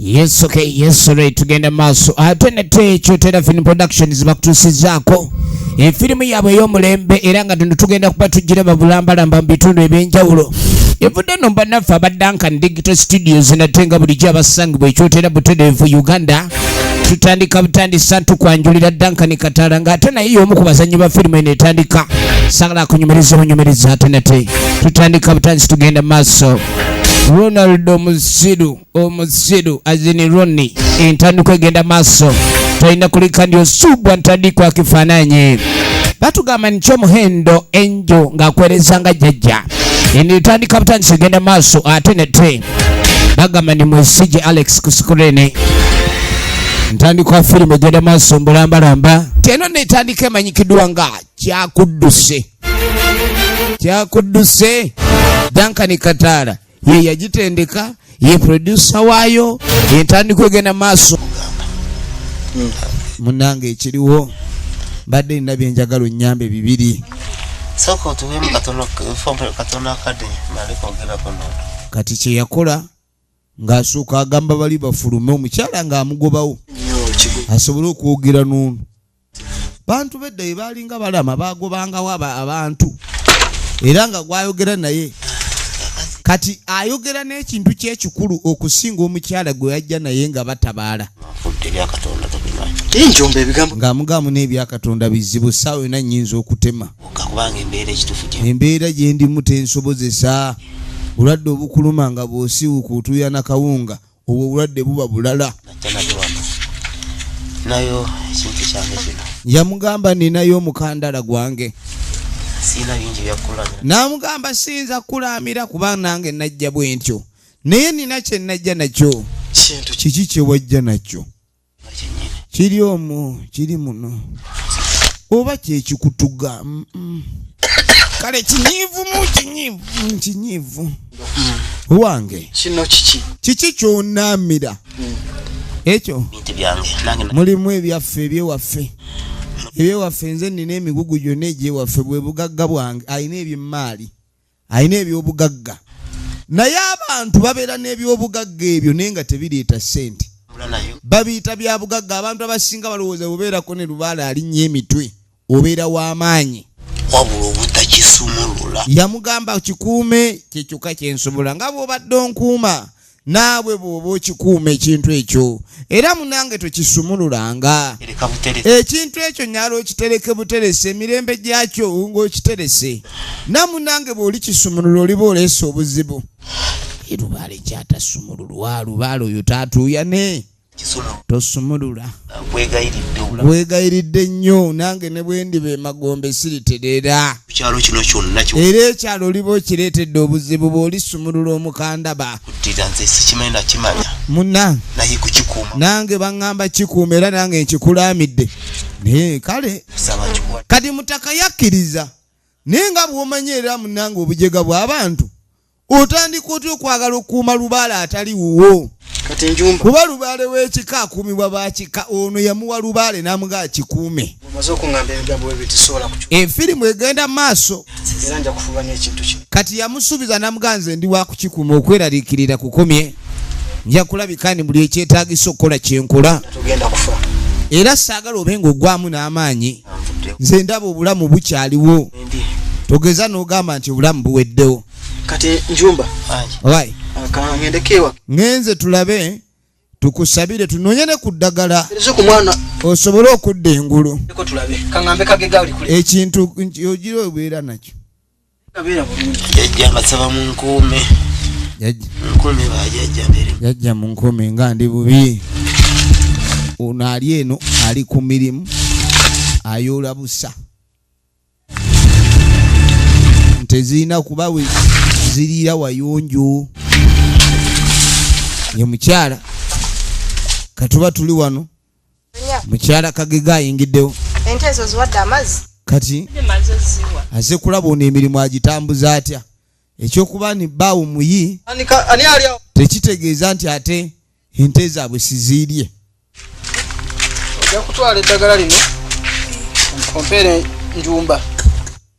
Yes, okay, yes, right. Tugenda maaso ate ah, nate ekyo Tera Film Productions bakutuusizaako efirimu eh, yaabwe ey'omulembe era nga tuno tugenda kuba tujjira babulambalamba mu bitundu eby'enjawulo evudde no bannaffe aba Duncan Digital Studios nate nga bulijjo abasangibwa ekyotera butereevu Uganda tutandika butandisa ntukwanjulira Duncan Katala nga ate naye y'omu ku bazannyi ba firimu eno etandika sagala kunyumiriza obunyumiriza ate nate tutandika butandisi tugenda maaso Ronald omuziru omuziru azini Ronnie entandikwa egenda maaso tolina kulika ndi osubwa ntandikwa kifaananyi batugamba nikyo omuhendo enjo ng'akwereza nga jjajja enitandika butandisi egenda maaso ate nete bagamba ni mwesije alex kusikurene ntandikwa firimu egenda maaso mbulambalamba teno netandika emanyikiddwa nga kyakudduse kyakudduse dankani kataala ye yagitendeka ye produsa waayo entandikwa egenda maaso munange ekiriwo mbadde nina byenjagala onyambe bibiri kati kyeyakola ng'asooka agamba bali bafulume omukyala ng'amugobawo asobole okwogera n'ono bantu bedda ye baalinga balama baagobangawo abantu era nga gwayogera naye kati ayogera n'ekintu kyekikulu okusinga omukyala gwe yajja naye nga batabaala ng'amugamu n'ebyakatonda bizibu saawa yona nyinza okutema kakubanga embeera ekitufu gye embeera gye ndimu tensobozesa bulwadde obukuluma nga bwosiwuka otuya na kawunga obwo obulwadde buba bulala nayo ekintu kyange kino yamugamba ninayo omukandala gwange namugamba siyinza kukulamira kuba nange najja bwentyo naye nina kyenajja nakyo kiki kyewajja nakyo kiri omwo kiri muno oba kyekikutuga kale kinyiivu mu kinyiivu kinyiivu wange kino kiki kiki kyonaamira hmm. ekyo mulimu ebyaffe ebyewaffe ebyewaffe nze nina emigugu gyonna egyewaffe bwe bugagga bwange alina ebyemmaali alina ebyobugagga naye abantu babeera n'ebyobugagga ebyo naye nga tebireeta ssente babiyita byabugagga abantu abasinga balowooza bubeerako ne lubaala alinnya emitwe obeera w'amaanyi wabula obutakisumulula yamugamba kikuume kyekyoka kyensobola nga bw'obadde onkuuma naawe bw'oba okikuuma ekintu ekyo era munange tokisumululanga ekintu ekyo nyala okitereke buterese emirembe gyakyo ng'okiterese na munange bw'oli kisumulula oliba oleese obuzibu lubaale kyatasumululwa lubaale oyo tatuuyane tosumulula nkwegayiridde nnyo nange ne bwendiba emagombe siriterera era ekyalo oliba okireetedde obuzibu bw'olisumulula omukandaba muna nange baŋŋamba kikuuma era nange nkikulaamidde naye kale kati mutaka yakkiriza naye nga bw'omanyi era munange obujega bw'abantu otandika otya okwagala okukuuma lubaale atali wuwo kuba lubaale w'ekika akuumibwa bakika ono yamuwa lubaale n'amuga akikuume efirimu eh, egenda mu maaso kati yamusuubiza namuga nze ndi wakukikuuma okweraliikirira kukomye nja kulabika ni buli ekyetagisa okukola kyenkola era saagala obe nga ogwamu n'amaanyi nze ndaba obulamu bukyaliwo togeza n'ogamba nti obulamu buweddewo kati njumba right akangendeke ewa ngenze tulabe tukusabire tunonye ne ku ddagala osobole okudda engulu ekintu ogira obeera nakyo jajja mu nkuumi nga ndi bubi ono ali eno ali ku mirimu ayoola busa tezirina kuba we ziriira wayonjo ye mukyala katuba tuli wano mukyala kagega ayingiddewo ente ezo ziwadde amazzi kati aze kulaba ono emirimu agitambuza atya ekyokuba ni baawo muyi tekitegeeza nti ate ente zaabwe siziirye ojja kutwala eddagala lino ompeere njumba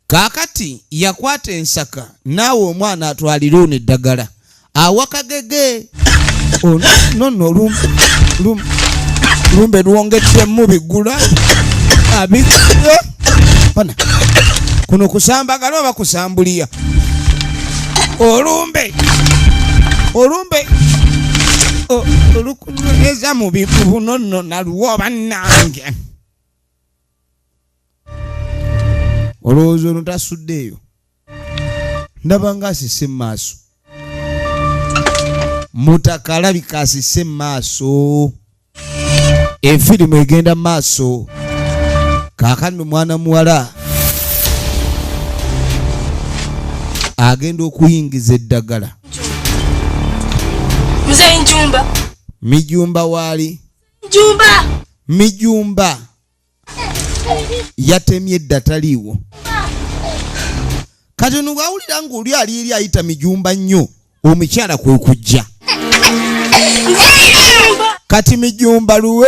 kaakati yakwata ensaka naawe omwana atwalire ono eddagala awakagege nono lumbe lwongeddemu bigula abigula bana kuno kusambagala oba kusambuliya olumbe olumbe oluku eza mu bibuno nno naluwo bannange olowooza ono tasuddeeyo ndaba nga asise mu maaso mutaka alabika asise mu maaso efirimu egenda mu maaso kaakani omwana muwala agenda okuyingiza eddagala mzee njumba mijumba waali njumba mijumba yatemye edda taliiwo kati ono bwawulira ng'oli ali eri ayita mijumba nnyo omukyala kwe kujja kati mijumba luwe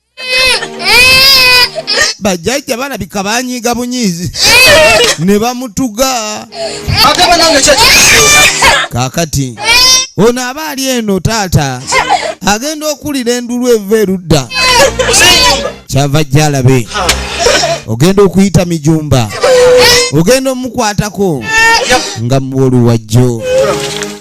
bajjajja balabika banyiiga bunyiizi ne bamutuga kakati ono aba ali eno taata agenda okulira endulu eva erudda kyava jjalabe ogenda okuyita mijumba ogenda omukwatako nga muwoluwajjo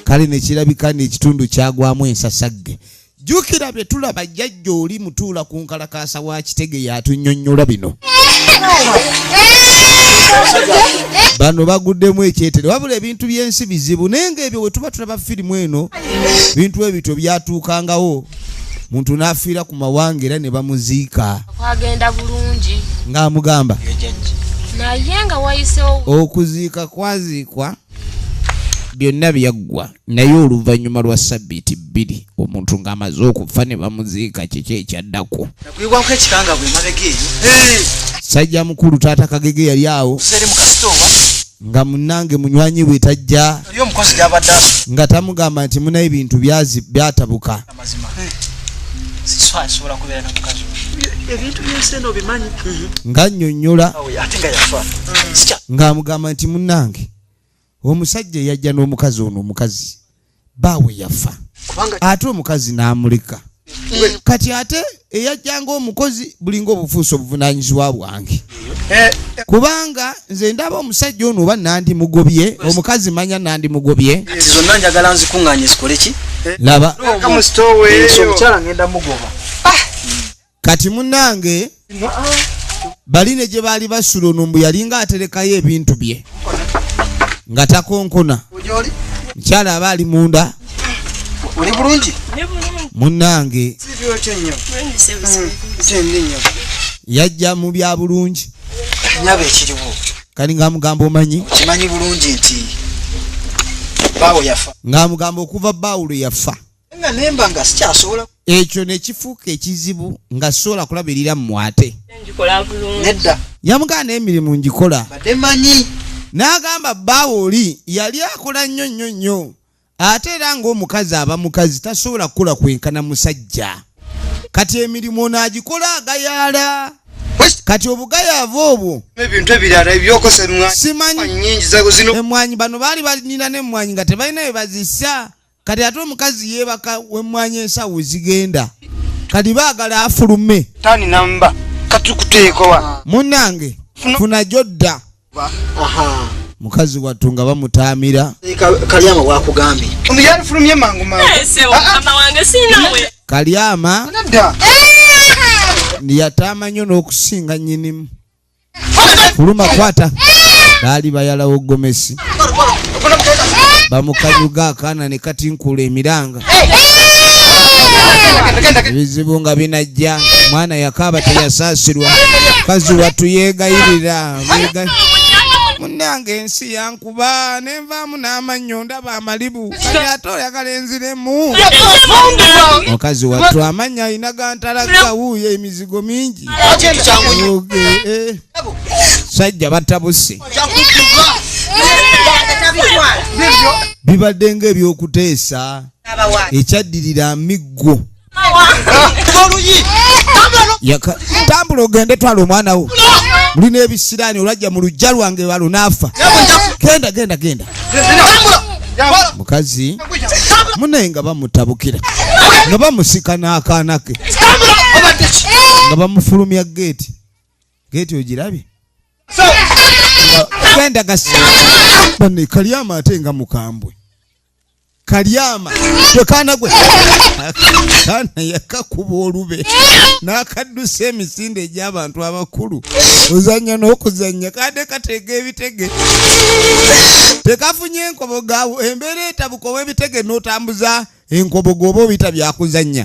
kale nekirabika nekitundu kyagwamu ensasagge jukira bye tulaba jjajja oli mutuula ku nkalakaasa wa kitege yatunyonyola bino bano baguddemu ekyetere wabula ebintu by'ensi bizibu naye nga ebyo wetuba tulaba firimu eno bintu ebityo byatuukangawo muntu n'afiira ku mawanga era ne bamuziika kwagenda bulungi ng'amugamba naye nga wayisewo okuziika kwaziikwa byonna byaggwa naye oluvannyuma lwa sabbiiti bbiri omuntu ng'amaze okufa ne bamuziika kiki ekyaddako nagwibwako ekikangabwa emabega eyo sajja mukulu taata kagege yali awo nga munange munywanyi we tajja nga tamugamba nti muna ebintu byatabuka nga nnyonnyola ng'amugamba nti munange omusajja eyajja n'omukazi ono omukazi baawe yafa ate omukazi n'amuleka kati ate eyajjanga omukozi bulinga obufuusa obuvunanyizibwa bwange eh. kubanga nze ndaba omusajja ono oba nandi mugobye omukazi manya nandi mugobye zonna njagala nzikuŋŋanye zikoleki laba kati munange bali ne gye baali basula ono mbu yalinga aterekayo ebintu bye nga takonkona mukyala aba ali munda oli bulungi munange yajja mu bya bulungi kati ngaamugamba omanyi ng'amugamba okuva baawulo yafa ekyo nekifuuka ekizibu nga sobola kulabirira mumwate yamugana emirimu ngikola n'agamba bbaawe oli yali akola nnyo nnyo nnyo ate era ng'omukazi aba mukazi tasobola kukola kwenkana musajja kati emirimu onaagikola agayaala kati obugayaavu obwo ebintu ebirala ebyokosemwanyi emwanyi bano baali balina n'emmwanyi nga tebalina bye bazisa kati ate omukazi yebaka wemwanya ensawo zigenda kati bagala afulume tani namba kati kuteekowa munange funa jodda mukazi wattu nga bamutaamira kalyama bwakugambye omuyali fulumye mangu mangukalyama eh, ah, ah. yataama nyo n'okusinga nyinimu kuluma kwata baali bayalawo gomesi bamukanyuga akaana ne katinkula emiranga ebizibu nga binajja mwana yakaaba teyasaasirwa kazi watu yeegayirira munange ensi yankuba nenvaamu n'amannyo ndaba amalibu kati ate oyagala enziremu mukazi wattu amannya alina gantalaga wuuyo emizimu mizigo mingi eh. sajja batabuse bibadde nga ebyokuteesa ekyaddirira miggo tambula ogende twala omwana wo mulina ebisiraani olwajja mu lujja lwange balunaafa genda genda genda mukazi munaye nga bamutabukira nga bamusika n'akaana ke nga bamufulumya geeti geeti ogirabye genda gasi bane kalyama ate nga mukambwe kalyama wekaana gwe kaana yakakuba olube n'akaddusa emisinde egy'abantu abakulu ozannya n'okuzannya kade kateega ebitege tekafunye enkobogawo embeera etabuka ow'ebitege n'otambuza enkoboga oba obita byakuzannya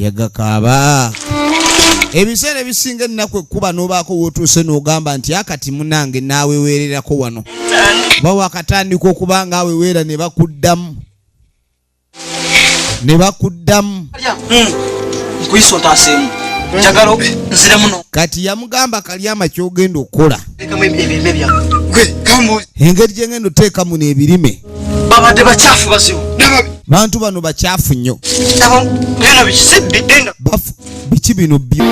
yagakaaba ebiseera ebisinga ennaku ekkuba n'obaako w'otuuse n'ogamba nti akati munange naaweweererako wano oba wakatandika okuba nga awe weera ne bakuddamu ne bakuddamu kati yamugamba kalyama kyogenda okukola engeri gyengenda oteekamu n'ebirime babadde bakyafu bazibu bantu bano bakyafu nnyo biki bino byo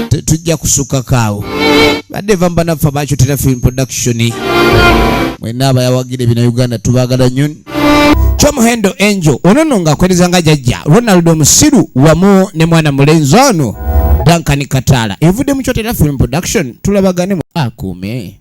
tetujja kusukako awo badde va mbanaffe abakitera film production mwena abayawagire bina uganda tubagala nyo kyomuhendo enjo onono ngaakwereza nga jajja ronald omusiru wamu ne mwana mulenzi ono dankani kataala evudde mu kyotera film production tulabagane akuume